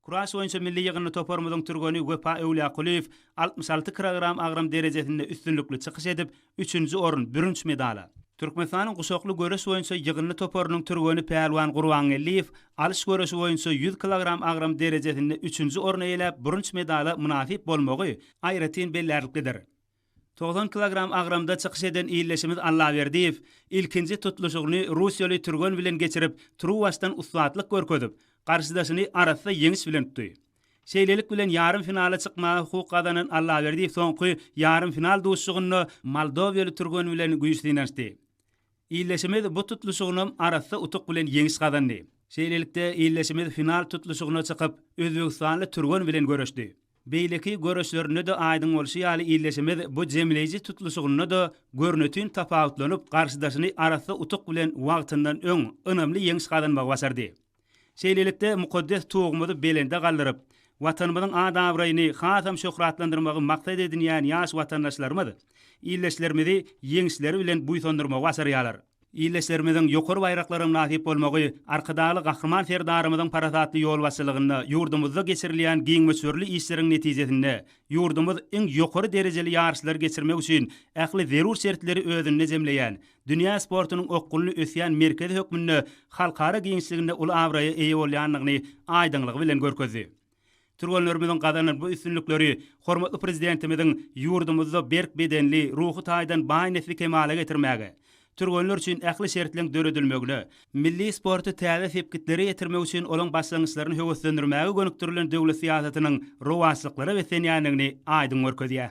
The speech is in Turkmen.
Kuraş boýunça milli ýygyndy toparymyzyň türgeni Wepa Öwlýakulyýew altmyş alty kirogram agram derejesinde üstünlikli çykyş edip, üçünji orun, bürünç medala, Türkmenistanyň guşakly göreş boýunça ýygyndy toparynyň türgeni Pälwan Gurbangeldiýew alyş göreşi boýunça ýüz kilogram agram derejesinde üçünji orny eýeläp, bürünç medala mynasyp bolmagy aýratyn bellärliklidir. Togsan kilogram agramda çykyş eden ildeşimiz Allaberdiýew ilkinji tutluşygyny russiýaly türgen bilen geçirip, turuwbaşdan ussatlyk görkezip, garşydaşyny arassa ýeňiş bilen utdy. Şeýlelik bilen ýarym finala çykmaga hukuk gazanan Allaberdiýew soňky ýarym final duşuşygynda moldowiýaly türgen bilen güýç synanyşdy. Ildeşimiz bu tutluşygynam arassa utuk bilen ýeňiş gazandy. Şeýlelikde, ildeşimiz final tutluşygyna çykyp, özbegistanly türgen bilen göreşdi. Beýleki göreşlerinde-de aýdyň bolşy ýaly ildeşimiz bu jemleýji tutluşygynda-da görnetin tapawutlanyp, garşydaşyny arassa utuk bilen wagtyndan öň, ynamly ýeňiş gazanmagy başardy. Şeýlelikde, mukaddes Tugumyzy belende galdyryp, Watanymyzyň at-abraýyny hasam şöhratlandyrmagy maksat edinýän ýaş watandaşlarymyz ildeşlerimizi ýeňişleri bilen buýsandyrmagy başarýarlar. Ildeşlerimiziň ýokary baýraklara mynasyp bolmagy Arkadagly Gahryman Serdarymyzyň parasatly ýolbaşçylygynda ýurdumyzda geçirilýän giň möçberli işleriň netijesinde ýurdumyz iň ýokary derejeli ýaryşlary geçirmek üçin ähli zerur şertleri özünde jemleýän dünýä sportunyň okgunly ösýän merkezi hökmünde halkara giňişliginde uly abraýa eýe bolýandygyny aýdyňlygy bilen görkezdi. Türgenlerimiziň gazanan bu üstünlikleri hormatly Prezidentimiziň ýurdumyzda berk bedenli, ruhy taýdan baý nesli kemala getirmäge, türgenler üçin ähli şertleň döredilmegine, milli sporty täze sepgitlere ýetirmek üçin olaň başlangyçlaryny höweslendirmäge gönükdirilen döwlet syýasatynyň rowaçlyklara beslenýändigini aýdyň görkezýär.